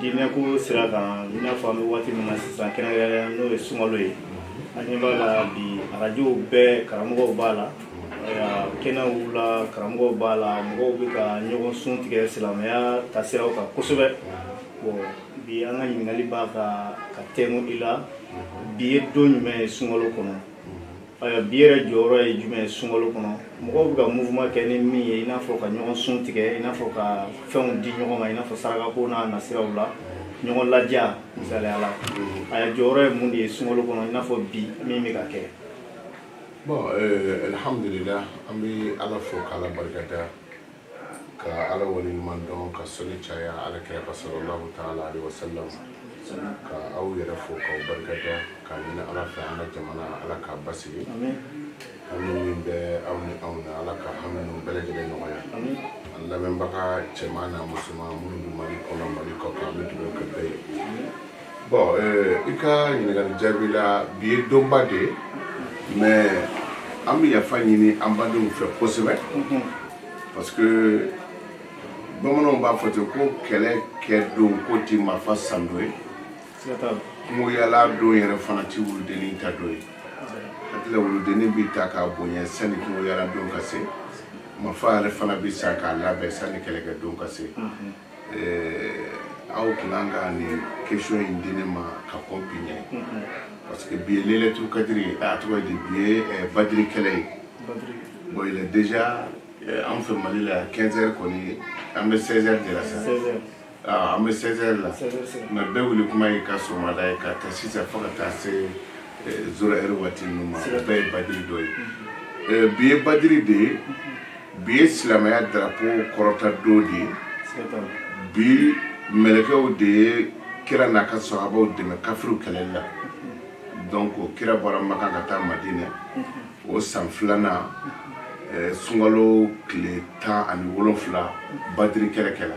diinɛko sira kan i n'a fɔ an bɛ waati min na sisan kɛrɛnkɛrɛnnenya n'o ye sunkalo ye an ɲɛ b'a la bi arajow bɛɛ karamɔgɔw b'a la kɛnɛw la karamɔgɔw b'a la mɔgɔw bɛ ka ɲɔgɔn sun tigɛ silamɛya taasiraw kan kosɛbɛ bon bi an ka ɲininkali b'a ka ka tɛnku i la bi ye don jumɛn ye sunkalo kɔnɔ Ayiwa bi yɛrɛ jɔyɔrɔ ye jumɛn ye sunkalo kɔnɔ mɔgɔw bɛ ka mouvement kɛ ni min ye i n'a fɔ ka ɲɔgɔn sun tigɛ i n'a fɔ ka fɛnw di ɲɔgɔn ma i n'a fɔ sarakako n'a nasiraw la ɲɔgɔn ladiya misaliya la ayiwa a jɔyɔrɔ ye mun de ye sunkalo kɔnɔ i n'a fɔ bi min bɛ ka kɛ. bon alhamdulillah an bɛ ala fo k'ala barika da. ka ala waleɲuman dɔn ka soli caya ala kira kan sallallahu ta'ala alaihi wasallam ka aw yɛrɛ fo k'aw barika da k'a ɲini ala fɛ an ka jamana ala k'a basigi hami min bɛ aw ni anw na ala ka hami ninnu bɛɛ lajɛlen nɔgɔya an lamɛnbaga cɛman n'a musoman minnu bɛ mali kɔnɔ mali kɔkan an bɛ dugawu kɛ bɛɛ ye bon i ka ɲininkali jaabi la bi ye donba de ye mais an bɛ yafa ɲini an badenw fɛ kosɛbɛ parce que bamananw b'a fɔ ten ko kɛlɛkɛ don ko ti marifa san don ye kungoyaala don yɛrɛ fana ti wuludennin ta don ye hakika wuludennin bɛ ta k'a bonya sanni kungoyaala don ka se marifa yɛrɛ fana bɛ san k'a labɛn sanni kɛlɛkɛ don ka se eh, aw tun kan ka nin question in di ne ma ka kɔn bi ɲɛ parce que bi ye lailatul kadiri a tɔgɔ di bi ye eh, badiri kɛlɛ ye bon il est déjà eh, an fɛ mali la 15 heures kɔni an bɛ 16 heures de la sa ah, an bɛ 16 heures la mais bɛɛ wuli kuma ye ka sɔgɔmada ye ka ta sisan fo ka taa se zéro heure waati ninnu ma o bɛɛ ye badiri don ye bi ye badiri de ye bi ye silamɛya darapo kɔrɔta don de ye bi mɛlɛkɛw de ye kira n'a ka sahabaw dɛmɛ kafiriw kɛlɛli la donc kira bɔra maka ka taa madinɛ o san filanan sunkalo tile tan ani wolonfila badiri kɛlɛ kɛla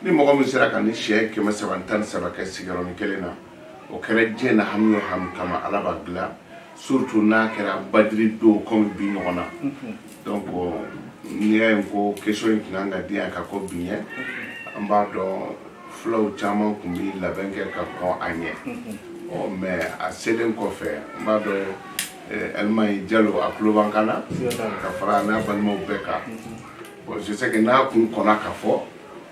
ni mɔgɔ min sera ka nin siɲɛ kɛmɛ saba ni tan ni saba kɛ sigiyɔrɔnin kelen na o kɛra diɲɛ na hami o hami kama ala b'a dilan surtout n'a kɛra badiri don kɔmi bi ɲɔgɔn na donc n'i y'a ye ko question in tun kan ka di yan ka kɔn bi ɲɛ an b'a dɔn fulaw caman tun bɛ labɛn kɛ ka kɔn a ɲɛ ɔ mais a selen kɔfɛ n b'a dɔn ɛlimayi jalo a tulo b'an kan na ka fara n'a balimaw bɛɛ kan bon je sais que n'a kun kɔnna ka fɔ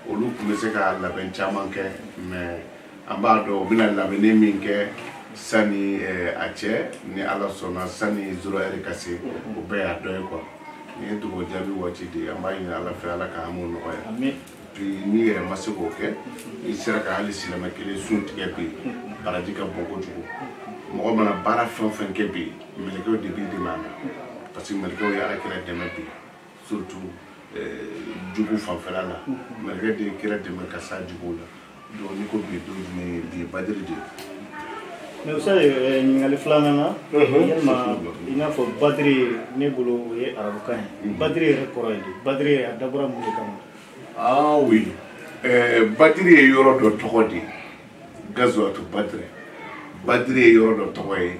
olu tun bɛ se ka labɛn caman kɛ mais an b'a dɔn u bɛna labɛnni min kɛ sani eh, a cɛ ni ala sɔnna sani zéro heure ka se o bɛɛ y'a dɔ ye quoi nin ye dugawu jaabi waati de ye an b'a ɲini ala fɛ ala k'an m'o nɔgɔya bi n'i yɛrɛ ma se k'o kɛ n'i sera ka hali silamɛ kelen sun tigɛ bi baraji ka bon kojugu mɔgɔ mana baara fɛn o fɛn kɛ bi mɛlɛkɛw de b'i dɛmɛ a la parce que mɛlɛkɛw ye ala kira dɛmɛ bi surtout eh, jugu fanfɛla la mɛlɛkɛ de ye kira dɛmɛ ka s'a juguw la donc n'i ko bi don jumɛn ye bi ye badiri de ye mais ustazi ɲininkali filanan na yalima i n'a fɔ badiri ne bolo o ye arabukan ye badiri yɛrɛ kɔrɔ ye di badiri yɛrɛ a dabɔra mun de kama ah oui eh, badiri ye yɔrɔ dɔ tɔgɔ de ye gazuwatu badiri badiri ye yɔrɔ dɔ tɔgɔ ye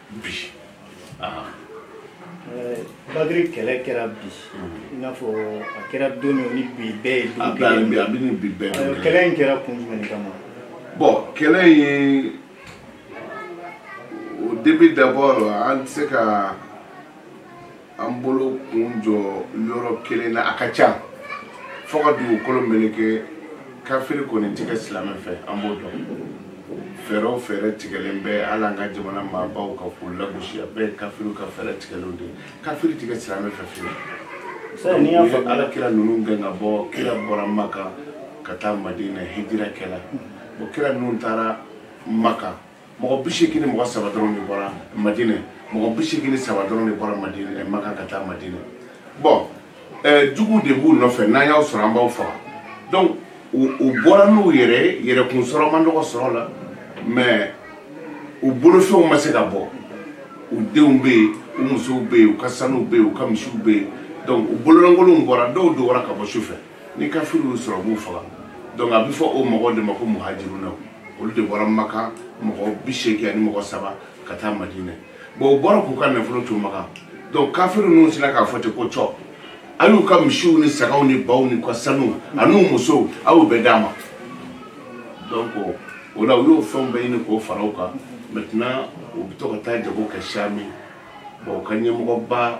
bi badiri kɛlɛ kɛra bi i n'a fɔ a kɛra don min ni bi bɛɛ ye don kelen ye a bɛ ni bi bɛɛ ye kɛlɛ in kɛra kun jumɛn de kama bon kɛlɛ in au début d'abord an tɛ se ka an bolo kun jɔ yɔrɔ kelen na a ka ca fo ka dugukolo meleke kafiri kɔni tɛ kɛ silamɛ fɛ an b'o dɔn fɛɛrɛ o fɛɛrɛ tigɛlen bɛ hali an ka jamana maabaw ka k'u lagosi a bɛɛ ye kafiriw ka fɛɛrɛ tigɛlenw de ye kafiri tɛ kɛ silamɛ fɛ fiyewu c'est n'i y'a fɔ ala kira ninnu gɛn ka bɔ kira bɔra maka ka taa madina hijira kɛla o kira ninnu taara maka mɔgɔ bi seegin ni mɔgɔ saba dɔrɔn de bɔra madinɛ mɔgɔ bi seegin ni saba dɔrɔn de bɔra madinɛ eh, maka ka taa madinɛ bon eh, juguw de b'u nɔfɛ n'an y'aw sɔrɔ an b'aw faga donc u bɔra n'u yɛrɛkun sɔrɔ man dɔgɔ sɔrɔ la mais u bolofɛnw ma se ka bɔ u denw bɛ yen u musow bɛ yen u ka sanuw bɛ yen u ka misiw bɛ yen donc u bololankolonw bɔra dɔw dogora ka bɔ su fɛ ni kafiri y'u sɔrɔ b'u faga donc a bɛ fɔ o mɔgɔw de ma ko muhajiruna olu de bɔra maka mɔgɔ bi seegin ani mɔgɔ saba ka taa madinɛ bon u bɔra k'u ka nafolo to maka donc kafiri ninnu sera k'a fɔ ten ko cɔ a y'u ka misiw ni sagaw ni baw n'u ka sanu an'u musow a y'u bɛɛ d'an ma donc o la u y'o fɛnw bɛɛ ɲini k'o fara u kan maintenant u bɛ to ka taa jago kɛ sami bon u ka ɲɛmɔgɔba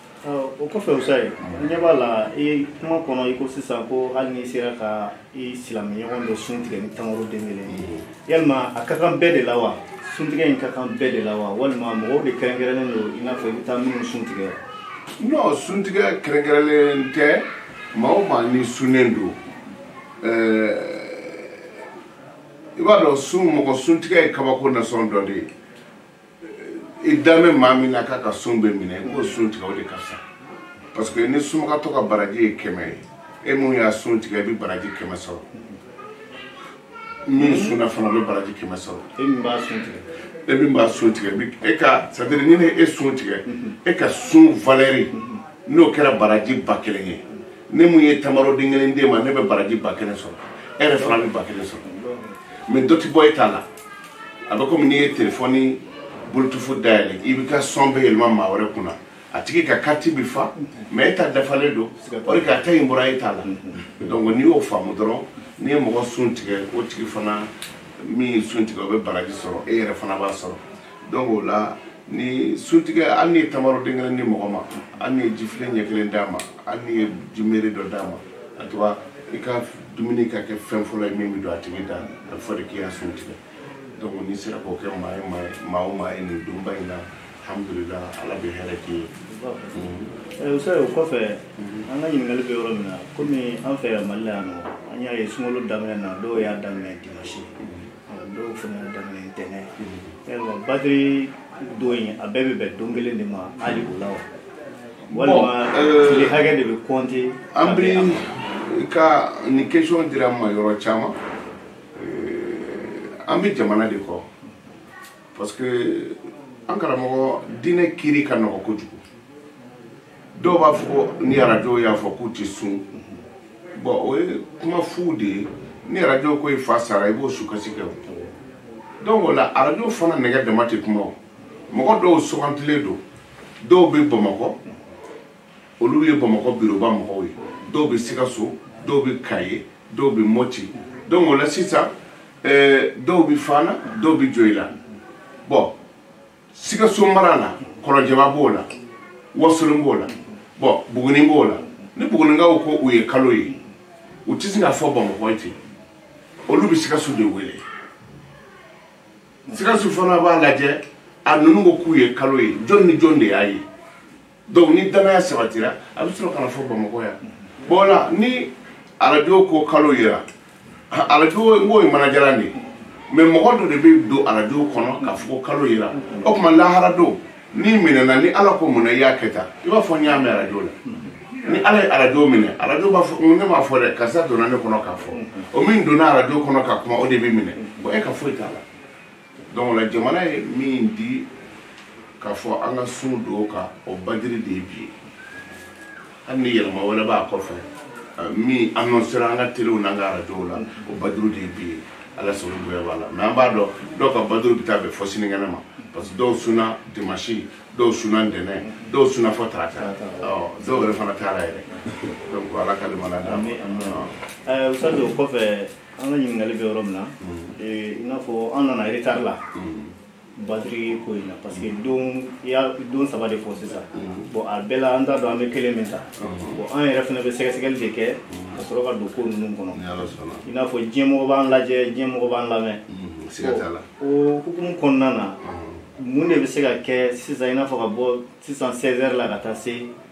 o kɔfɛ ustazi n ɲɛ b'a la i kuma kɔnɔ i ko sisan ko hali n'i sera ka i silamɛɲɔgɔn dɔ sun tigɛ ni tamaro den kelen ye yalima a ka kan bɛɛ de la wa suntigɛ in ka kan bɛɛ de la wa walima mɔgɔw de kɛrɛnkɛrɛnnen don i n'a fɔ i bɛ taa minnu sun tigɛ non suntigɛ kɛrɛnkɛrɛnlen tɛ maa o maa ni sunnen don i b'a dɔn sun mɔgɔ suntigɛ ye kabako nasɔn dɔ de ye i da bɛ maa min na k'a ka sun bɛ minɛ i b'o sun tigɛ o de ka fisa parce que ni sunbagatɔ ka baraji ye kɛmɛ ye e mun y'a sun tigɛ i bɛ baraji kɛmɛ sɔrɔ min sunna fana bɛ baraji kɛmɛ sɔrɔ e min b'a sun tigɛ e min b'a sun tigɛ bi e ka c'est à dire ni ne e sun tigɛ e ka sun valeur n'o kɛra baraji ba kelen ye ne mun ye tamaroden kelen d'e ma ne bɛ baraji ba kelen sɔrɔ e yɛrɛ fana bɛ ba kelen sɔrɔ mais dɔ tɛ bɔ e ta la a bɛ komi n'i ye telefɔni bluetooth dayɛlɛ i b'i ka son bɛɛ yɛlɛma maa wɛrɛ kunna a tigi ka kariti bɛ fa mais e ta dafalen don o de ka ta in bɔra e ta la donc n'i y'o faamu dɔrɔn n'i ye mɔgɔ sun tigɛ o tigi fana min ye sun tigɛ o bɛ baraji sɔrɔ e yɛrɛ fana b'a sɔrɔ donc o la ni suntigɛ hali n'i ye tamaro den kelen di mɔgɔ ma hali n'i ye jifilen ɲɛ kelen d'a ma hali n'i ye jimere dɔ d'a ma en tout cas i ka dumuni ka kɛ fɛn fɔlɔ ye min bɛ don a tigi da a bɛ fɔ de k'i y'a sun tigɛ donc n'i sera k'o kɛ maa o maa ye nin donba in na alhamdulilah ala bɛ hɛrɛ k'i ye. Eh, usa o kɔfɛ an ka ɲininkali bɛ yɔrɔ min na komi an fɛ yan mali la yan nɔ an y'a ye sunkalo daminɛ na dɔw y'a daminɛ dimansi dɔw fana y'a daminɛ ntɛnɛn yalima badiri don in a bɛɛ bɛ bɛn don kelen de ma hali o la wa walima euh, tile hakɛ de bɛ compter an bɛ ka nin question dira n ma yɔrɔ caman euh, an bɛ jamana de kɔ parce que an karamɔgɔ diinɛ kiri ka nɔgɔ kojugu dɔw b'a fɔ ni arajo y'a fɔ k'u tɛ sun bon o ye kuma fu de ye ni arajo ko i fa sara i b'o sukasi kɛ o donc o la arajo fana nɛgɛ dama tɛ kuma o mɔgɔ dɔw sugantilen don dɔw bɛ bamakɔ olu ye bamakɔ biroba mɔgɔw ye dɔw bɛ sikaso dɔw bɛ kaye dɔw bɛ mɔti donc o la sisan eh, dɔw bɛ fana dɔw bɛ joyila bon sikaso mara la kɔlɔnjɛba b'o la wasolon b'o la bon buguni b'o la ni bugunikaw ko u ye kalo ye u tɛ se k'a fɔ bamakɔ ye ten olu bɛ sikaso de wele sikaso fana b'a lajɛ a ninnu ko k'u ye kalo ye jɔn ni jɔn de y'a ye donc ni danaya sabatira a bɛ sɔrɔ ka n'a fɔ bamakɔ yan bon o la ni arajo ko kalo yera arajo n k'o ye mana jalan de ye mais mɔgɔ dɔ de bɛ don arajo kɔnɔ k'a fɔ ko kalo yera o tuma lahara don n'i minɛna ni ala ko munna i y'a kɛ tan i b'a fɔ n y'a mɛn arajo la ni ala ye arajo minɛ arajo b'a fɔ ne m'a fɔ dɛ karisa donna ne kɔnɔ k'a fɔ o min donna arajo kɔnɔ ka kuma o de bɛ minɛ bon e ka foyi t'a la donc o la jamana ye min di k'a fɔ an ka sun don o kan o badiri de ye bi ye hali ni yɛlɛma wɛrɛ b'a kɔfɛ euh, min annoncera an ka telew n'an ka arajow la o badiri de ye bi ye ala sago bonya b'a la mais an b'a dɔn dɔw ka badiri bɛ taa bɛn fɔ sinikɛnɛ ma parce que dɔw sunna dimanche dɔw sunna ntɛnɛn dɔw sunna fɔ tarata dɔw yɛrɛ fana taara yɛrɛ donc ala ka limana d'a ma. Ustaz o kɔfɛ an ka ɲininkali bɛ yɔrɔ min na eh, i n'a fɔ an nana retard la badiri ko in na parce que don i ye don saba de fɔ sisan bon a bɛɛ la an t'a dɔn an bɛ kelen min ta bon an yɛrɛ fana bɛ sɛgɛsɛgɛli de kɛ ka sɔrɔ ka don ko ninnu kɔnɔ ni ala sɔnna i n'a fɔ diɲɛmɔgɔ b'an lajɛ diɲɛmɔgɔ b'an lamɛn Mhm, siga t'a la o hukumu kɔnɔna na mun de bɛ se ka kɛ sisan i n'a fɔ ka bɔ sisan 16 heures la ka taa se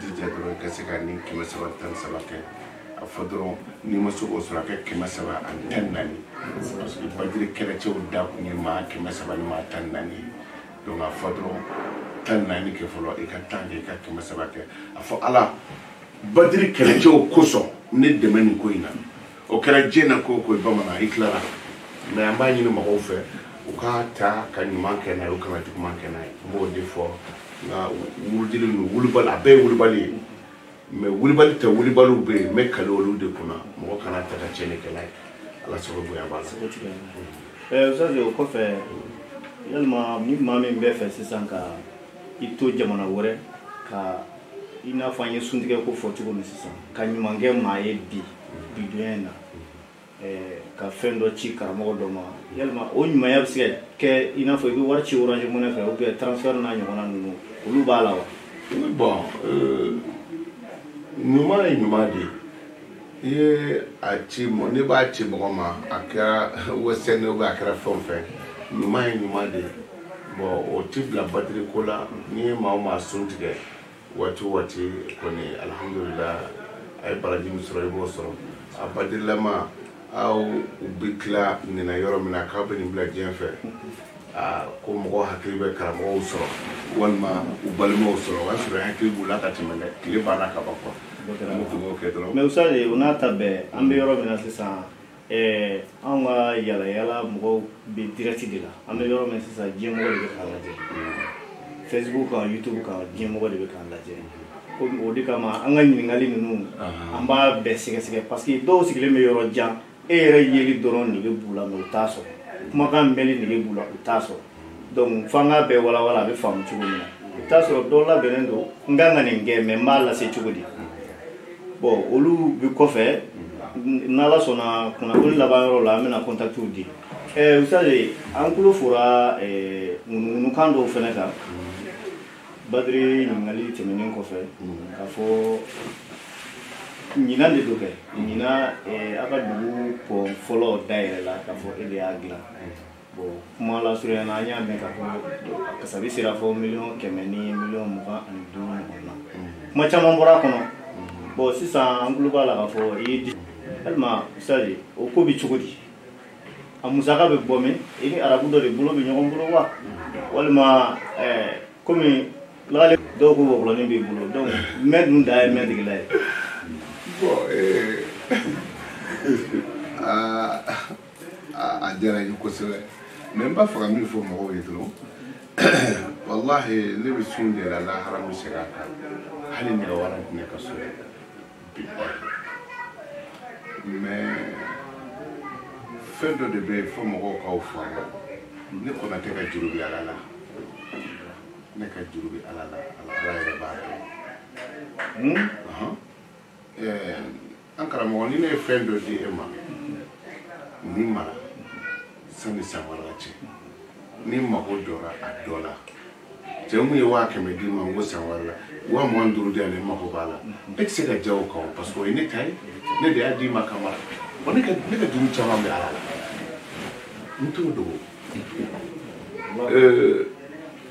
jija dɔrɔn ka se ka nin kɛmɛ saba tan saba kɛ a fɔ dɔrɔn n'i ma se k'o sɔrɔ a kɛ kɛmɛ saba ani tan naani parce que badiri kɛlɛcɛw dakun ye maa kɛmɛ saba ni maa tan naani ye donc a fɔ dɔrɔn tan naani kɛ fɔlɔ i ka tan kɛ i ka kɛmɛ saba kɛ a fɔ ala badiri kɛlɛcɛw kosɔn ne dɛmɛ nin ko in na o kɛra diɲɛ na ko o ko bamanan i tilara mais an b'a ɲini mɔgɔw fɛ u ka ta ka ɲuman kɛ n'a ye u kana juguman kɛ n'a ye n b'o de fɔ nka wuludili ninnu wulibali a bɛɛ ye wulibali ye mais wulibali cɛ wulibaliw bɛ yen n bɛ kale olu de kunna mɔgɔ kana ta ka tiɲɛni kɛ n'a ye ala sago bonya b'a la eh, Ustaz o kɔfɛ yalima ni maa min b'a fɛ sisan ka i to jamana wɛrɛ ka i n'a fɔ an ye suntigɛ ko fɔ cogo min sisan ka ɲuman kɛ maa ye bi bi donya in na ka fɛn dɔ ci karamɔgɔ dɔ ma yalima o ɲumanya bɛ se ka kɛ i n'a fɔ i bɛ wari ci orange money fɛ ou bien transfert n'a ɲɔgɔnna ninnu olu b'a la wa bon ɲuman ye ɲuman de ye i ye a ci mɔ ne b'a ci mɔgɔ ma a kɛra western ou bien a kɛra fɛn o fɛn ɲuman ye ɲuman de ye bon o ti bila badiri ko la n'i ye maa o maa sun tigɛ waati o waati kɔni alihamudulila a ye baraji min sɔrɔ i b'o sɔrɔ a badirilama aw u bɛ tila nin na yɔrɔ min na k'aw bɛ nin bila diɲɛ fɛ aa ko mɔgɔ hakili bɛ karamɔgɔw sɔrɔ walima u balimaw sɔrɔ o y'a sɔrɔ i hakili b'u la ka tɛmɛ dɛ tile banna ka ban quoi an bɛ tugu o kɛ dɔrɔn mais Ustaz o n'a ta bɛɛ an bɛ yɔrɔ min na sisan ɛɛ anw ka yalayala mɔgɔw bɛ direct de la an bɛ yɔrɔ min sisan diɲɛmɔgɔ de bɛ k'an lajɛ facebook kan youtube kan diɲɛmɔgɔ de bɛ k'an lajɛ o de kama an ka ɲininkali ninnu an b'a bɛɛ sɛgɛsɛgɛ parce que dɔw sigilen bɛ yɔrɔ jan e yɛrɛ yeli dɔrɔn nege b'u la mais u t'a sɔrɔ kumakan mɛnli nege b'u la u t'a sɔrɔ donc f'an k'a bɛɛ walawala a bɛ faamu cogo min na i bɛ t'a sɔrɔ dɔ labɛnnen don n kan ka nin kɛ mais n b'a lase cogo di bon olu bɛ kɔfɛ n'ala sɔnna kunnafoni laban yɔrɔ la an bɛna kɔntakitiw di ɛɛ usitazi an tulo fora ŋunuŋunukan dɔw fɛnɛ kan badiri ɲininkali tɛmɛnen kɔfɛ k'a fɔ ɲinan de don kɛ ɲinan aw ka dugu pɔn fɔlɔ dayɛlɛla k'a fɔ e de y'a dilan bon kuma lasurunya na an y'a mɛn k'a fɔ kasabi sera fo miliyɔn kɛmɛ ni miliyɔn mugan ani duuru ɲɔgɔn na kuma caman bɔra a kɔnɔ bon sisan an tulo b'a la k'a fɔ i ye di walima usitazi o ko bɛ cogo di a musaka bɛ bɔ min i ni arabu dɔ de bolo bɛ ɲɔgɔn bolo wa walima komi eh, lagale dɔw ko wɔkulɔnin b'i bolo donc mɛ dun da ye mɛ degela ye bon eh, ah, a diyara n ye kosɛbɛ mais n b'a fɛ ka min fɔ mɔgɔw ye dɔrɔn walahi ne bɛ sun de la lahara bɛ segin a kan hali nɛgɛ wari tɛ ne ka so bi mais fɛn dɔ de bɛ yen fo mɔgɔw k'a faamu ne konatɛ ka juru bɛ ala la ne ka juru bɛ ala la ala yɛrɛ b'a dɔn eh, an karamɔgɔ ni ne ye fɛn dɔ di e ma nin mara sani san wɛrɛ cɛ ni n mago jɔra a dɔ la cɛ mun ye waa kɛmɛ d'i ma n ko san wɛrɛ la waa mugan duuru di yan ne mago b'a la e tɛ se ka ja o kan o parce que o ye ne ta ye ne de y'a d'i ma kama wa ne ka ne ka juru caman bɛ ala la n t'o dogo. Euh,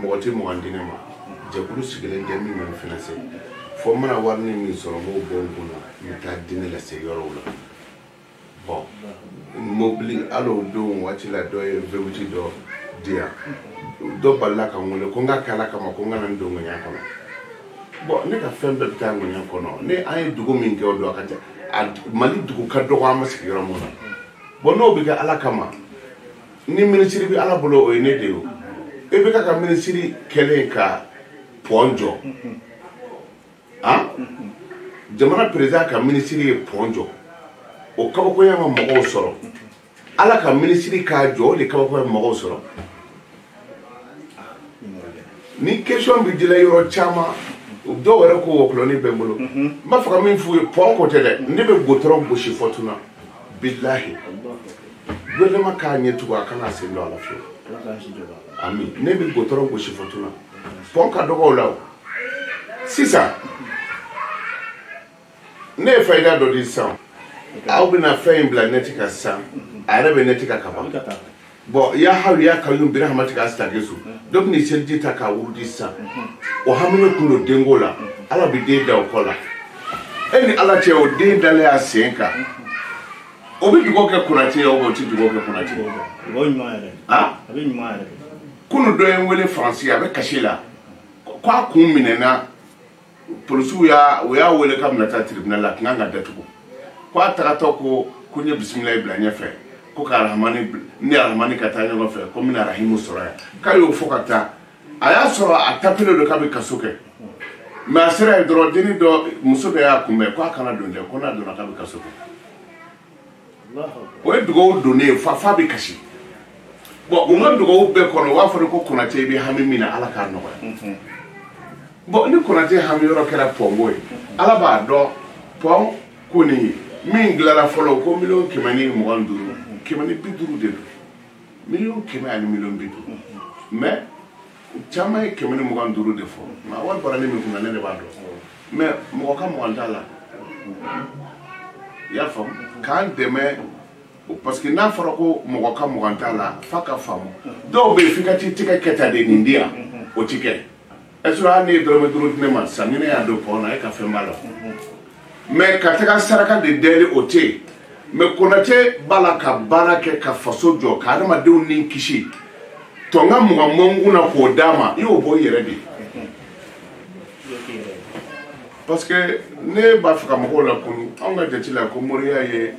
mɔgɔ tɛ mɔgɔ di ne ma jɛkulu sigilen tɛ min bɛ n financer fo n mana wari ni min sɔrɔ n b'o bɔ n kun na n bɛ taa di ne lase yɔrɔw la bon mobili hali o don waati la dɔ ye vewuti dɔ di yan dɔ balala ka n wele ko n ka kɛ ala kama ko n kana n don ŋɛɲɛ kɔnɔ bon ne ka fɛn bɛɛ bɛ taa ŋɛɲɛ kɔnɔ ni an ye dugu min kɛ o don a ka ca mali dugu ka dɔgɔ an ma sigi yɔrɔ min na bon n'o bɛ kɛ ala kama ni minisiri bɛ ala bolo o ye ne de ye IBK ka minisiri kɛlen ka pɔn jɔ jamana perezidan ka minisiri ye pɔn jɔ o kabakoya ma mɔgɔw sɔrɔ ala ka minisiri k'a jɔ o de kabakoya ma mɔgɔw sɔrɔ nin question bɛ dila yɔrɔ caman dɔw yɛrɛ ko wɔkulɔni bɛ n bolo n b'a fɛ ka min f'u ye pɔn ko tɛ dɛ ne bɛ gudɔrɔn gosi fɔtuna bilahi gouvernement k'a ɲɛ tugu a kana sen don a la fiyewu ami ne bɛ gudɔrɔn gosi fɔtuna pɔn ka dɔgɔ o la o sisan ne ye fayida dɔ di sisan aw bɛna fɛn in bila nɛti kan sisan a yɛrɛ bɛ nɛti kan ka ban bɔn ya hayu ya kayyum bi rahmatika astagisu dɔ bɛ ni seliji ta k'a wurudi sisan o hamina tun don denko la ala bɛ den da o kɔ la e ni ala cɛ o den dalen y'a sen kan o bɛ dugawu kɛ konate ye o tɛ dugawu kɛ konate ye dugawu ɲuman yɛrɛ a bɛ ɲuman yɛrɛ kunu dɔ ye n wele faransi a bɛ kasi la ko a kun minɛna polisiw y'a o y'a wele k'a bɛna taa tribunal la a tun kan ka datugu ko a tagatɔ ko ko n ye bisimilayi bila ɲɛfɛ ko k'a ni arahamani ka taa ɲɔgɔn fɛ ko n bɛna arahimu sɔrɔ yan k'a y'o fɔ ka taa a y'a sɔrɔ a tapilen don k'a bɛ kaso kɛ mɛ a sera yen dɔrɔn denni dɔ muso dɔ y'a kunbɛn ko a kana don dɛ ko n'a donna k'a bɛ kaso kɛ o ye dugawu don ne ye f'a f'a bɛ kasi bɔn u ka dugawu bɛɛ kɔnɔ u b'a fɔ de ko konate i bɛ hami min na ala k'a nɔgɔya bɔn ni konate hami yɔrɔ kɛra pɔnko ye ala b'a dɔn pɔn ko nin ye min dilara fɔlɔ ko miliyɔn kɛmɛ ni mugan ni duuru kɛmɛ ni bi duuru de don miliyɔn kɛmɛ ani miliyɔn bi duuru mɛ u caman ye kɛmɛ ni mugan ni duuru de fɔ nka wari bɔra ne min kunna ne de b'a dɔn mɛ mɔgɔ ka mugan t'a la i y'a faamu k'an dɛmɛ parce que n'a fɔra ko mɔgɔ ka mugan t'a la f'a ka faamu dɔw bɛ yen f'i ka t'i tɛgɛ kɛ tan de nin di yan o ti kɛ ɛsɔrɔ hali n'e ye dɔrɔmɛ duuru di ne ma sisan ni ne y'a don pɔn na e ka fɛn b'a la mɛ ka taga saraka de dɛli o tɛ yen mɛ konate b'a la ka baara kɛ ka faso jɔ ka adamadenw ni kisi tɔnka mugan mɔnkun na k'o d'a ma i y'o bɔ i yɛrɛ de ye parce que ne b'a fɛ ka mɔgɔw lakunun anw ka jate la ko moriya ye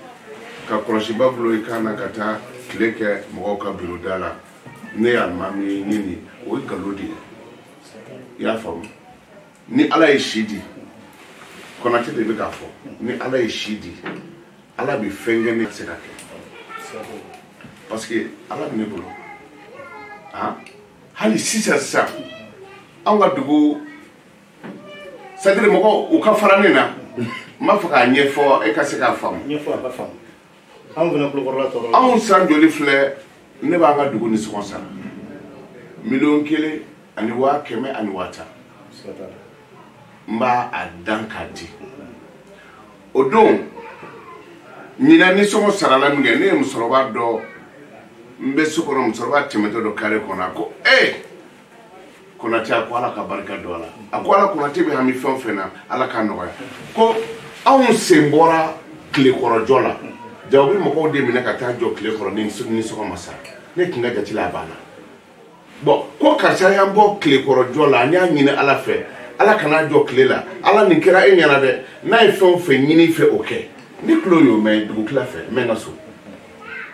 ka kɔlɔsiba bolo i kan na ka taa tile kɛ mɔgɔw ka biro da la ne ye alimami ye n ye nin o ye nkalon de ye i y'a faamu ni ala ye si di konate de bɛ k'a fɔ ni ala ye si di ala bɛ fɛn kɛ ne tɛ se k'a kɛ parce que ala bɛ ne bolo ah hali sisan sisan anw ka dugu c'est-à-dire mɔgɔw u ka fara ne na n b'a fɛ k'a ɲɛfɔ e ka se k'a faamu anw fana kulukɔrɔla tɔɔrɔ anw san joli filɛ ne b'an ka dugu nisɔngɔ sara miliyɔn kelen ani waa kɛmɛ ani waa tan n b'a a dan k'a di o don ɲinan nisɔngɔ sarala min kɛ ne ye musokɔrɔba dɔ n bɛ so kɔnɔ musokɔrɔba tɛmɛtɔ don kare kɔnɔ a ko ee konate a ko ala ka barika don a la a ko ala konate bɛ hami fɛn o fɛn na ala k'a nɔgɔya ko anw sen bɔra tilekɔrɔjɔ la jaa u bɛ mɔgɔw de minɛ ka taa jɔ tile kɔrɔ ni nisɔngɔ ma sara ne tun ka jate la a banna bɔn ko karisa y'an bɔ tilekɔrɔjɔ la an y'a ɲini ala fɛ ala kan'a jɔ tile la ala nin kɛra e ɲɛna dɛ n'a ye fɛn o fɛn ɲini i fɛ o kɛ ne tulo y'o mɛn dugutila fɛ n bɛ n ka so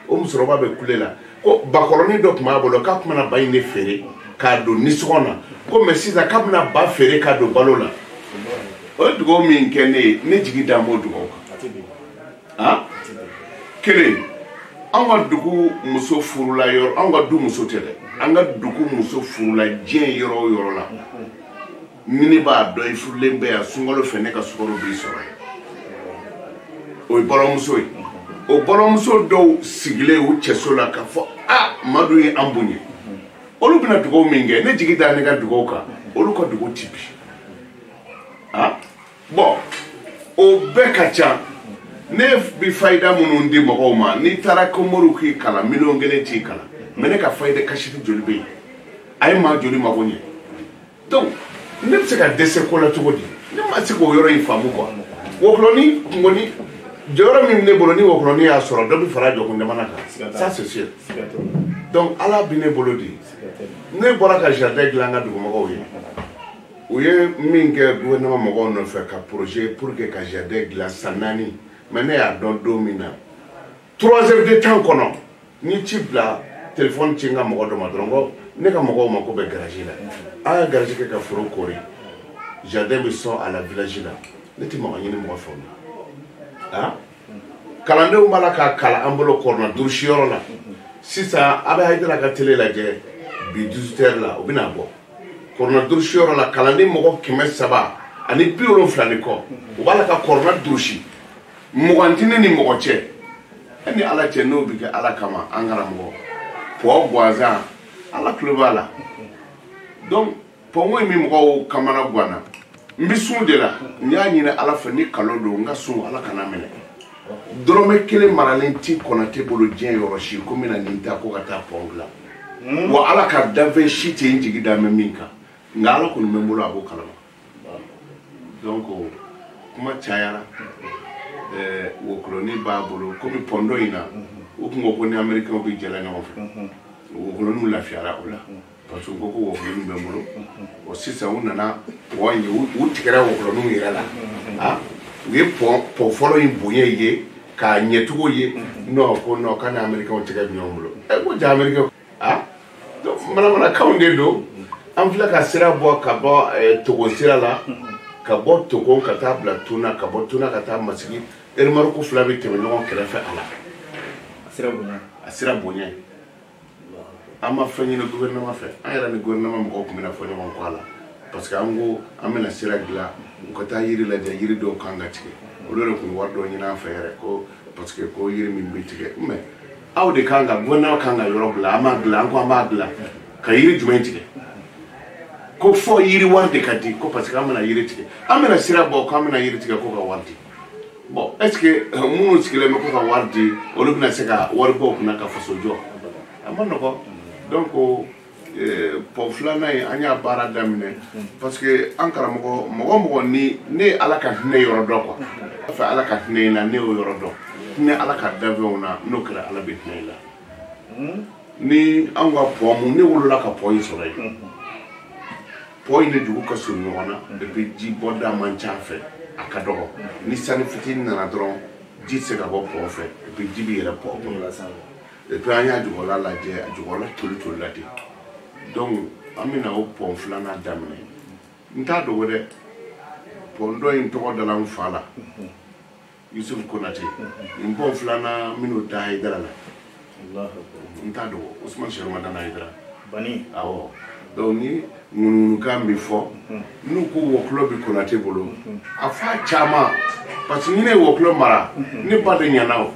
o musokɔrɔba bɛ kule la ko bakɔrɔnin dɔ tun b'a bolo k'a tun bɛna ba in de feere k'a don nisɔngɔ na ko mais sisan k'a bɛna ba feere k'a don balo la o ye dugawu min kɛ ne ye ne jigi dan b'o dugawu kan kelen an ka dugu muso furula yɔrɔ an ka du muso tɛ dɛ an ka dugu muso furula diɲɛ yɔrɔ o yɔrɔ la ni ne b'a dɔn i furulen bɛ yan sunkalo fɛ ne ka sukaro b'i sɔrɔ yen o ye bɔlɔmuso ye o bɔlɔmuso dɔw sigilen u cɛso la k'a fɔ a madu ye an bonya olu bɛna dugawu min kɛ ne jigi da ne ka dugawu kan olu ka dugawu ti bin ah bon o bɛɛ ka ca ne bi fayida minnu di mɔgɔw ma n'i taara ko moriw k'i kalan miliyɔn kelen t'i kalan mais ne ka fayida kasɛti joli bɛ yen a ye maa joli mago ɲɛ donc ne bɛ se ka dɛsɛ ko la cogo di ne ma se k'o yɔrɔ in faamu quoi wɔkulɔni kungoni jɔyɔrɔ min bɛ ne bolo ni wɔkulɔni y'a sɔrɔ dɔ bɛ fara jɔkun jamana kan ça c'est sûr donc ala bɛ ne bolo de ne bɔra ka jardin dilan n ka dugumɔgɔw ye u ye min kɛ gouvernement mɔgɔw nɔfɛ ka projet pour que ka jardin dilan san naani mais ne y'a dɔn don min na trois heures de temps kɔnɔ n ye ci bila telefɔni ci n ka mɔgɔ dɔ ma dɔrɔn ko ne ka mɔgɔw mako bɛ grillage la a ye grillage kɛ ka foro koori jardin bɛ sɔn a la village la ne tɛ mugan ɲini mɔgɔ fɛ o la a kalandenw b'a la k'a kalan an bolo kuranɛ durusi yɔrɔ la sisan a bɛ hayidara ka tele lajɛ bi 18 heures la u bɛna bɔ kuranɛ durusi yɔrɔ la kalanden mɔgɔ kɛmɛ saba ani bi wolonfila ni kɔ u b'a la ka kuranɛ durusi mugan tɛ ne ni mɔgɔ cɛ e ni ala cɛ n'o bɛ kɛ ala kama an karamɔgɔ pɔ gansan ala tulo b'a la donc pɔnko in bɛ mɔgɔw kamana ganna n bɛ sun de la n y'a ɲini ala fɛ ni nkalon don n ka sun ala kan'a minɛ dɔrɔmɛ kelen maralen ti konate bolo diɲɛ yɔrɔ si ko n bɛna nin ta ko ka taa pɔn dilan hmm? wa ala ka danfɛn si tɛ n jigi dan bɛ min kan nka ala kɔni bɛ n bolo a b'o kalama donc kuma cayara eh, wɔkulɔni b'a bolo komi pɔn dɔ in na u tun ko ko ni américain bɛ jɛla ɲɔgɔn fɛ wɔkulɔniw lafiyara o la parce que u ko ko wɔkulɔniw bɛ n bolo o sisan u nana pɔn ye u u tigɛra wɔkulɔniw yɛrɛ la a u ye pɔn pɔn fɔlɔ in bonya ye k'a ɲɛcogo ye non ko non k'a ni américain tigɛ bɛ ɲɔgɔn bolo ɛ ko ja américain ah, manamanakanw de don an filɛ ka sira bɔ ka bɔ eh, togo sira la ka bɔ togo ka taa bila tuna ka bɔ tuna ka taa masigi remorque fila bɛ tɛmɛ ɲɔgɔn kɛrɛfɛ a la a sira bonya ye an ma fɛn ɲini gouvernement fɛ an yɛrɛ ni gouvernement mɔgɔw tun bɛna fɔ ɲɔgɔn kɔ a la parce que an ko an bɛna sira dilan u ka taa yiri lajɛ yiri dɔw kan ka tigɛ olu de tun wari dɔ ɲini an fɛ yɛrɛ ko parce que ko yiri min bɛ tigɛ mais aw de kan ka gouvernement kan ka yɔrɔ bila an b'a bila an ko an b'a bila ka yiri jumɛn tigɛ ko fo yiri wari de ka di ko parce que an bɛna yiri tigɛ an bɛna sira bɔ k'an bɛna yiri tigɛ ko ka wari di bon est ce que euh, minnu sigilen bɛ ko ka wari di olu bɛna se ka wari bɔ kunna ka faso jɔ a man nɔgɔ donc eh, pɔn filanan in an y'a baara daminɛ parce que an karamɔgɔ mɔgɔ mɔgɔ ni ne ye ala ka hinɛ yɔrɔ dɔn quoi a fɛ ala ka hinɛ i la n'i y'o yɔrɔ dɔn hinɛ ala ka danfɛnw na n'o kɛra ala bɛ hinɛ i la hmm? ni anw ka pɔn mun ne wolola ka pɔn in sɔrɔ yen pɔn in ni dugu ka surun ɲɔgɔn na et puis ji bɔda man ca fɛ a ka dɔgɔ ni sanji fitinin nana dɔrɔn ji tɛ se ka bɔ pɔn fɛ et puis ji bɛ yɛlɛ pɔn kɔnɔ et puis an y'a jukɔrɔla lajɛ a jukɔrɔla toli tolila ten donc an bɛna o pɔn filanan daminɛ n t'a dogo dɛ pɔn dɔ in tɔgɔ dala n fa la yusuf konate nin pɔn filanan n bɛn'o da hayidara la n t'a dogo usman sɛrifu madani hayidara bani awɔ donc ni ŋunuŋunukan bɛ fɔ n'u ko wɔkulɔ bɛ konate bolo a fa caman parce que ni ne ye wɔkulɔ mara ne ba de ɲana o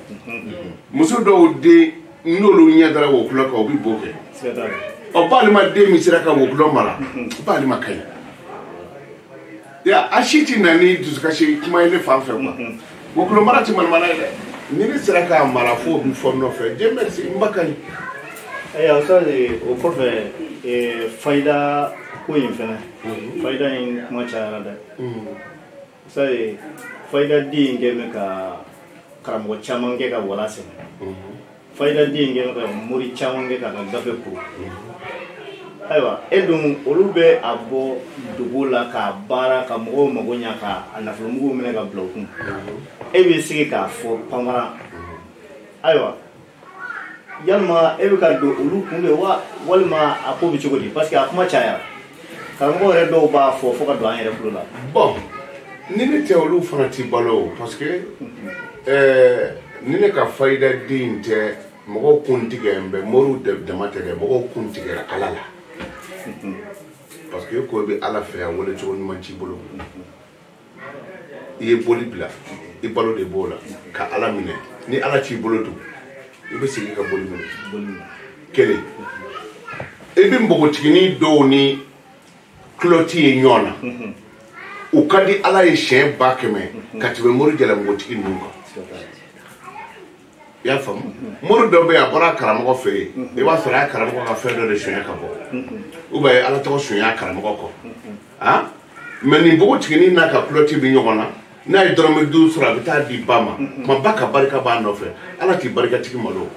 muso dɔw den n'olu ɲɛ dara wɔkulɔ kan o bɛ bo kɛ siga t'a la ɔ balima den min sera ka wɔkulɔ mara b'ale ma ka ɲi ya a si ti na ni dusukasi kuma ye ne fan fɛ quoi mhm. wɔkulɔ mara ti manamana ye dɛ ni ne sera k'a mara fo bi fɔ nɔfɛ dieu merci n ba ka ɲi ayiwa sa o kɔfɛ eh, fayida ko in fɛnɛ mhm. fayida in kuma cayara dɛ mhm. sa fayida di in kɛ bɛ ka karamɔgɔ caman kɛ ka wala sɛmɛ fayida di in kɛ ka mori caman kɛ k'a ka gafe ko ayiwa e dun olu bɛ a bɔ dogo la k'a baara ka mɔgɔw mago ɲa ka a nafolomuguw minɛ ka bila u kun e b'i sigi k'a fɔ panparan ayiwa yalima e bɛ ka don olu kun de wa walima a ko bɛ cogo di parce que a kuma cayara karamɔgɔ yɛrɛ dɔw b'a fɔ fo ka don an yɛrɛ tulo la bon ni ne tɛ olu fana ti balo o parce que eh, ni ne ka fayida di tɛ mɔgɔw kun tigɛ n bɛ moriw dama tɛ dɛ mɔgɔw kun tigɛra ala la parce que i ko i bɛ ala fɛ a wele cogo ɲuman t'i bolo i ye boli bila i balo de b'o la ka ala minɛ ni ala t'i bolo dun i bɛ segin ka boli minɛ kelen i bɛ npogotiginin dɔw ni kulɔti ye ɲɔgɔn na u ka di ala ye siɲɛ ba kɛmɛ ka tɛmɛ mori jalamugutigi ninnu kan i y'a faamu mori dɔ bɛ yen a bɔra a karamɔgɔ fɛ yen i b'a sɔrɔ a y'a karamɔgɔ ka fɛn dɔ de sonya ka bɔ ou bien a ye ala tɔgɔ sonya a karamɔgɔ kɔ han mais nin npogotiginin n'a ka kulɔti bɛ ɲɔgɔn na n'a ye dɔrɔmɛ duuru sɔrɔ a bɛ taa di ba ma komi ba ka barika b'a nɔfɛ ala t'i barikatigi malo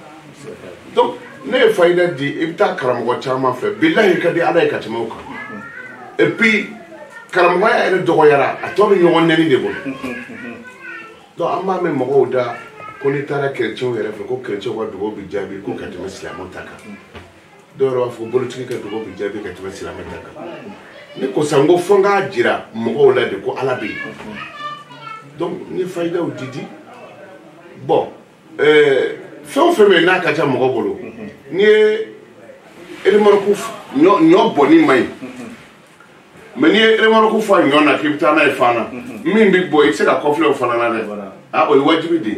donc ne ye fayida di i bɛ taa karamɔgɔ caman fɛ bilahi ka di ala ye ka tɛmɛ o kan et puis karamɔgɔya yɛrɛ dɔgɔyara a tɔ bɛ ɲɔgɔn nɛni de bolo donc an b'a mɛn mɔgɔw da ko n'i taara kerecɛnw yɛrɛ fɛ ko kerecɛnw ka dugawu bɛ jaabi ko ka tɛmɛ silamɛw ta kan dɔw yɛrɛ b'a fɔ bolitigi ka dugawu bɛ jaabi ka tɛmɛ silamɛ ta kan ne ko san ko fo n k'a jira mɔgɔw la de ko ala bɛ yen donc n ye fayidaw di di bɔn eh, fɛn o fɛn bɛ yen n'a ka ca mɔgɔ bolo n'i ye remɔriki ɲɔ bɔnni man ɲi mais n'i ye remɔriki fa ɲɔ na k'i bɛ taa n'a ye fan na min bɛ bɔn i tɛ se ka kɔfilɛ o fana na dɛ a o ye wajibi de ye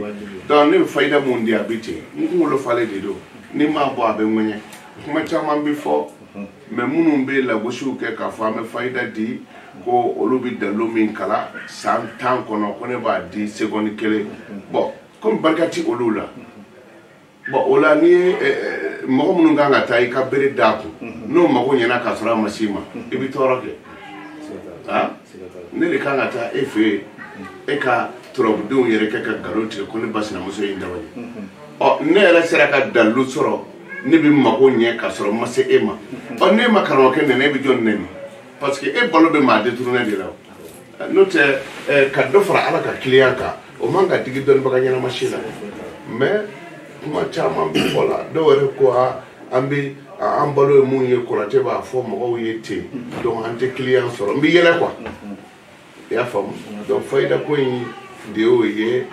donc ne bɛ fayida min di a bɛ ten n kunkolo falen de don ni n m'a bɔ a bɛ ŋɛɲɛ kuma caman bɛ fɔ mais minnu bɛ lagosiw kɛ k'a fɔ an bɛ fayida di ko olu bɛ dalilu min kalan san tan kɔnɔ ko ne b'a di segɔni kelen bɔn komi barika tɛ olu la bɔn o la n'i ye eh, eh, mɔgɔ minnu kan ka taa i ka bere d'a kun mhm. n'o mago ɲɛna k'a sɔrɔ a ma s'i ma mhm. i bɛ tɔɔrɔ kɛ ah? ne de kan ka taa e fɛ yen mhm. e ka turabudenw yɛrɛ kɛ ka nkalon tigɛ ko ne ba sinamuso ye n dabali ɔ ne yɛrɛ sera ka dalilu sɔrɔ ne bɛ mago ɲɛ ka sɔrɔ n ma se e ma ɔ n'e ma karamɔgɔkɛ nɛni e bɛ jɔn nɛni parce que e balo bɛ maa détourné de la o n'o tɛ ka dɔ fara ala ka kiliyan kan o man ka digi dɔnnibaga ɲɛnama si la mais kuma caman bɛ fɔ la dɔw yɛrɛ ko an bɛ an balo ye mun ye kɔrɔtɛ b'a fɔ mɔgɔw ye ten donc an tɛ kiliyan sɔrɔ n bɛ yɛlɛ quoi i y'a faamu donc fayida ko in de y'o ye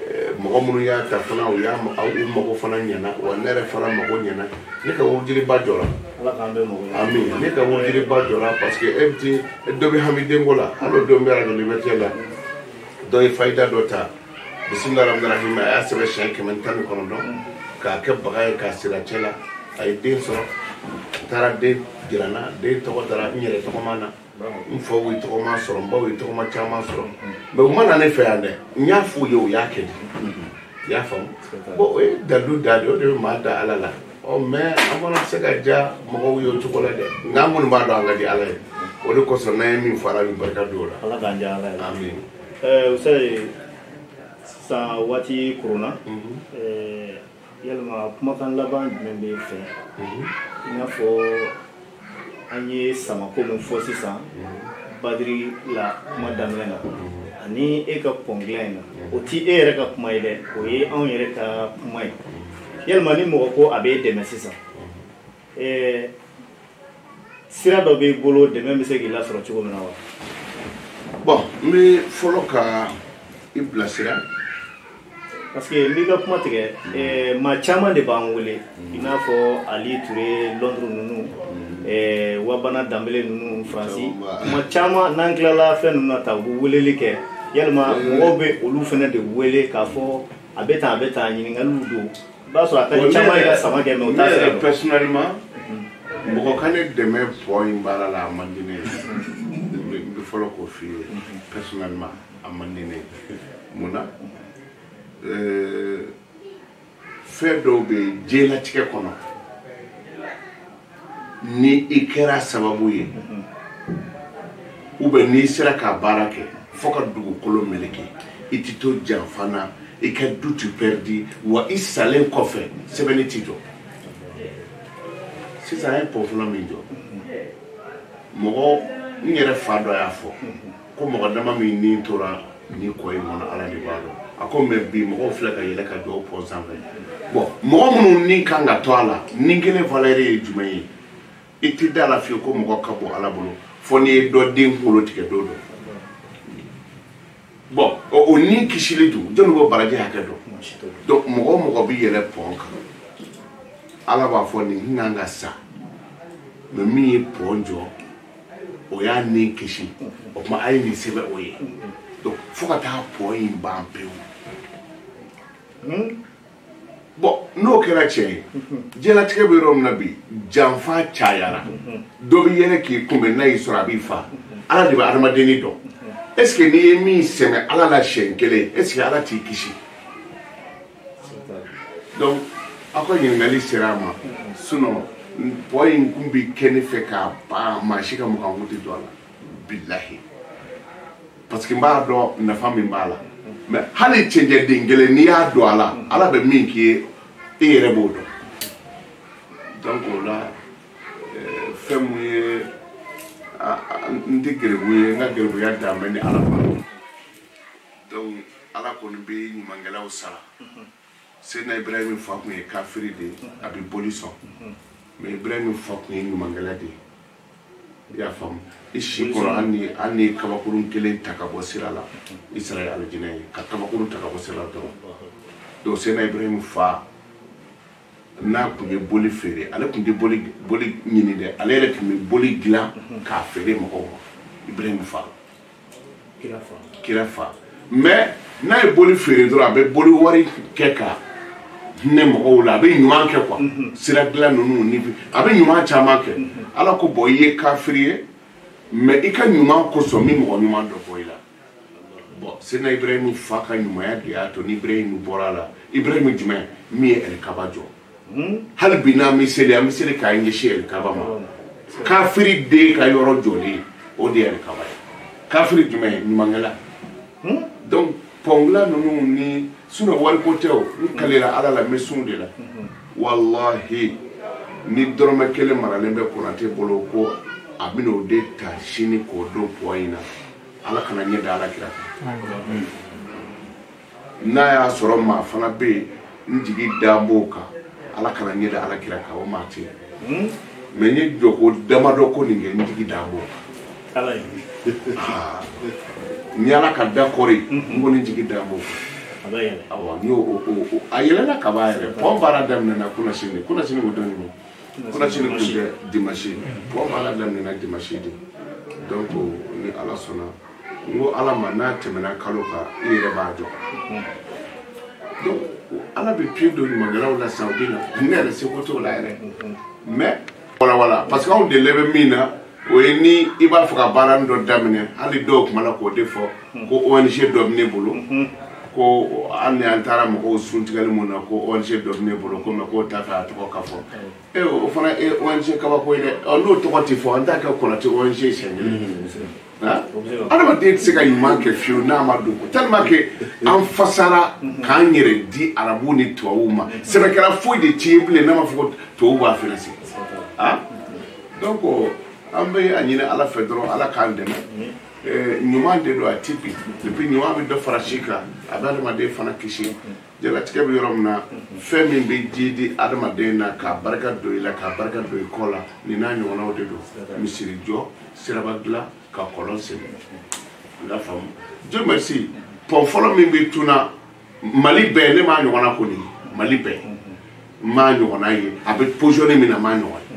eh, mɔgɔ minnu y'a ta fana u y'a u mago fana ɲɛna wa ne yɛrɛ fana mago ɲɛna ne ka wurudiliba jɔra ami ne ka wurudiliba jɔra parce que e bɛ ti dɔ bɛ hami denko la hali o don bɛ arajo liberté la dɔ ye fayida dɔ ta bisimila rahmani rahim a y'a sɛbɛn siɲɛ kɛmɛ ni tan ni kɔnɔntɔn k'a kɛ bagan ye k'a siri a cɛ la a ye den sɔrɔ taara den jira n na den tɔgɔ dara n yɛrɛ tɔgɔma na n faw ye tɔgɔma sɔrɔ n baw ye tɔgɔma caman sɔrɔ mɛ u ma na ne fɛ yan dɛ n y'a f'u ye u y'a kɛ i y'a faamu bɔn o ye dalilu da de o de bɛ maa da ala la ɔ mɛ an fana tɛ se ka diya mɔgɔw ye o cogo la dɛ nka an kɔni b'a dɔn an ka di ala ye o de kosɔn n'an ye min fɔ ala bi barika don o la ala k'an diya ala ye amin ɛɛ o sɛ sisan waati koronna ɛɛ yalima kumakan laban jumɛn b'e fɛ mhm. i n'a fɔ an ye samako min fɔ sisan mhm. badiri la kuma daminɛ na mhm. ani e ka pɔn dilan in na o ti e yɛrɛ ka kuma ye dɛ o ye anw yɛrɛ ka kuma ye yalima ni mɔgɔ ko a b'e dɛmɛ sisan ɛɛ sira dɔ b'i bolo dɛmɛ bɛ se k'i lasɔrɔ cogo min na wa. bɔn n bɛ fɔlɔ ka i bilasira. parce que n b'i ka kuma tigɛ ɛɛ maa caman de b'an wele i n'a fɔ ali ture lɔnduru ninnu ɛɛ wabana danbele ninnu faransi kuma caman n'an tilala fɛn ninnu na ta u bɛ weleli kɛ yalima mɔgɔw bɛ olu fana de wele k'a fɔ a bɛ tan a bɛ tan ɲininkaliw don. i b'a sɔrɔ a ka di caman ye ka sama kɛ mɛ u t'a sira dɔn ne yɛrɛ personnellement mɔgɔ ka ne dɛmɛ pɔn in baara la a man di ne ye n bɛ fɔlɔ k'o f'i ye personnellement a man di ne ye mun na fɛn dɔw bɛ yen diɲɛlatigɛ kɔnɔ ni i kɛra sababu ye ou bien n'i sera k'a baara kɛ fo ka dugukolo meleke i tɛ to janfa na i ka du ti pɛridi wa i salen kɔfɛ sɛbɛnni ti jɔ sisan an ye pɔn fɔlɔ min jɔ mɔgɔ n yɛrɛ fa dɔ y'a fɔ ko mɔgɔ dama min ni tora nin kɔ in kɔnɔ ala de b'a dɔn a ko mɛ bi mɔgɔw filɛ ka yɛlɛ ka jɔ o pɔn sanfɛ bɔn mɔgɔ minnu ni kan ka to a la ni kelen valeur ye jumɛn ye i tɛ da la fiyewu ko mɔgɔ ka bɔ ala bolo fo n'i ye dɔ den kunkolo tigɛ don dɔ bɔn o ni kisili dun jɔnni b'o baraji hakɛ dɔn donc mɔgɔ o mɔgɔ bɛ yɛlɛ pɔn kan ala b'a fɔ nin kan ka sa mɛ min ye pɔn jɔ o y'a ni kisi o tuma a ye nin sɛbɛn o ye donc fo ka taa pɔn in ban pewu hmm? bɔn n'o kɛra tiɲɛ ye diɲɛlatigɛ bɛ yɔrɔ min na bi janfa cayara dɔ bɛ yɛlɛ k'i kunbɛn n'a y'i sɔrɔ a b'i fa ala de bɛ adamaden ni dɔn est ce que n'i ye min sɛgɛn ala la siɲɛ kelen est ce que ala t'i kisi donc aw ka ɲininkali sera a ma sinon pɔn in kun bɛ kɛ ne fɛ ka ban maa si ka mugan kun tɛ don a la bilahi parce que n b'a dɔn nafa min b'a la mais hali cɛncɛn den kelen n'i y'a don a la ala bɛ min k'i ye e yɛrɛ b'o dɔn donc o la eh, fɛn mun ye n tɛ gɛrɛbu ye n ka gɛrɛbuya dan bɛ ni ala ma donc ala kɔni bɛ ɲumankɛlaw sara seydina ibrahim fa kun ye kafiri de ye a bɛ boli sɔn mais ibrahim fa kun ye ɲumankɛla de ye i y'a faamu i si kɔrɔ hali ni hali n'i ye kabakurun kelen ta ka bɔ sira la i sara ye alijinɛ ye ka kabakurun ta ka bɔ sira la dɔrɔn donc seydina ibrahim fa n'a kun ye boli feere ale kun tɛ boli boli ɲini dɛ ale yɛrɛ tun bɛ boli dilan k'a feere mɔgɔw ma ibrahim fa kira fa mais n'a ye boli feere dɔrɔn a bɛ boli wari kɛ ka hinɛ mɔgɔw la a bɛ ɲuman kɛ quoi mhm. sira dilan ninnu ni a bɛ ɲuman caman kɛ mhm. ala ko bon i ye kafiri ye mais i ka ɲuman kosɔn n bɛ mɔgɔ ɲuman dɔ bɔ i la bon seydina ibrahim fa ka ɲumanya de y'a to ni ibrahim bɔra a la ibrahim jumɛn min ye ɛlikaba jɔ hali bi n'an bɛ seli an bɛ seli k'an ɲɛsin alikaba ma kafiri den ka yɔrɔ jɔlen o de ye alikaba ye kafiri jumɛn ye ɲumankɛla donc pɔn dilan ninnu ni sinon wariko tɛ o n kalela ala la n bɛ sun de la walahi ni dɔrɔmɛ kelen maralen bɛ konate bolo ko a bɛna o de ta sini k'o don pɔn in na ala kana n ɲɛ da ala kira kan n'a y'a sɔrɔ maa fana bɛ yen n jigi da b'o kan ala kana n ɲɛ da ala kira kan o maa tɛ yen mais n ye jɔko damadɔ ko nin kɛ n jigi da b'o kan ni ala ka da kɔri n ko ne jigi da b'o kan awɔ n y'o a yɛlɛla ka ban yɛrɛ pɔn baara daminɛna kunasini kunasini ko don min don kunasini tun tɛ dimasi pɔn baara daminɛna dimasi de donc ni ala sɔnna n ko ala ma n'a tɛmɛna kalo kan i yɛrɛ b'a jɔ donc ala bɛ pied don ɲumankɛlaw la sisan u bɛ na ne yɛrɛ seko t'o la yɛrɛ mais voilà voilà parce que anw delilen bɛ min na o ye ni i b'a fɛ ka baara min dɔ daminɛ hali dɔw tun b'a la k'o de fɔ ko ong dɔ bɛ ne bolo ko hali ni an taara mɔgɔw suntigɛli min na ko ong dɔ bɛ ne bolo ko mais k'o t'a fɛ a tɔgɔ ka fɔ e o fana ye ong kabako ye dɛ n'o tɔgɔ tɛ fɔ an t'a kɛ konate ong siɲɛ kelen adamaden tɛ se ka ɲuman kɛ fiyewu n'a ma dɔn ko tellement que an fasara k'an yɛrɛ di arabu ni tubabuw ma sɛbɛkɛla foyi de ti yen bilen n'a ma fɔ ko tubabuw b'a financer ah donc an bɛ a ɲini ala fɛ dɔrɔn ala k'an dɛmɛ ɲuman de don a ti bin depuis ɲuman bɛ dɔ fara si kan a bɛ adamaden fana kisi jalatigɛ bɛ yɔrɔ min na fɛn min bɛ jidi adamaden na k'a barika don i la k'a barika don i kɔ la nin n'a ɲɔgɔnnaw de don misiri jɔ siraba dilan ka kɔlɔn sen i y'a faamu dieu merci pɔn fɔlɔ min bɛ tuna mali bɛɛ ne m'a ɲɔgɔnna kɔni mali bɛɛ n m'a ɲɔgɔnna ye a bɛ pozisiyɔn min na n m'a ɲɔgɔn ye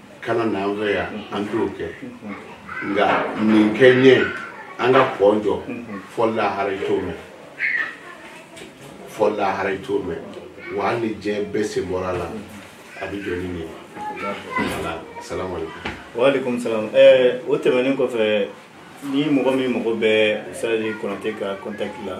kana na an fɛ yan an t'o kɛ nka nin kɛ ɲɛ an ka pɔn jɔ fɔ lahara i t'o mɛn fɔ lahara i t'o mɛn wa hali ni diɲɛ bɛɛ sen bɔra a la a bɛ jɔ ni nin ye voilà salamu aleykum. waaleykum salaam ɛɛ o tɛmɛnen kɔfɛ ni mɔgɔ min mago bɛ sadi konate ka kɔntakiti la.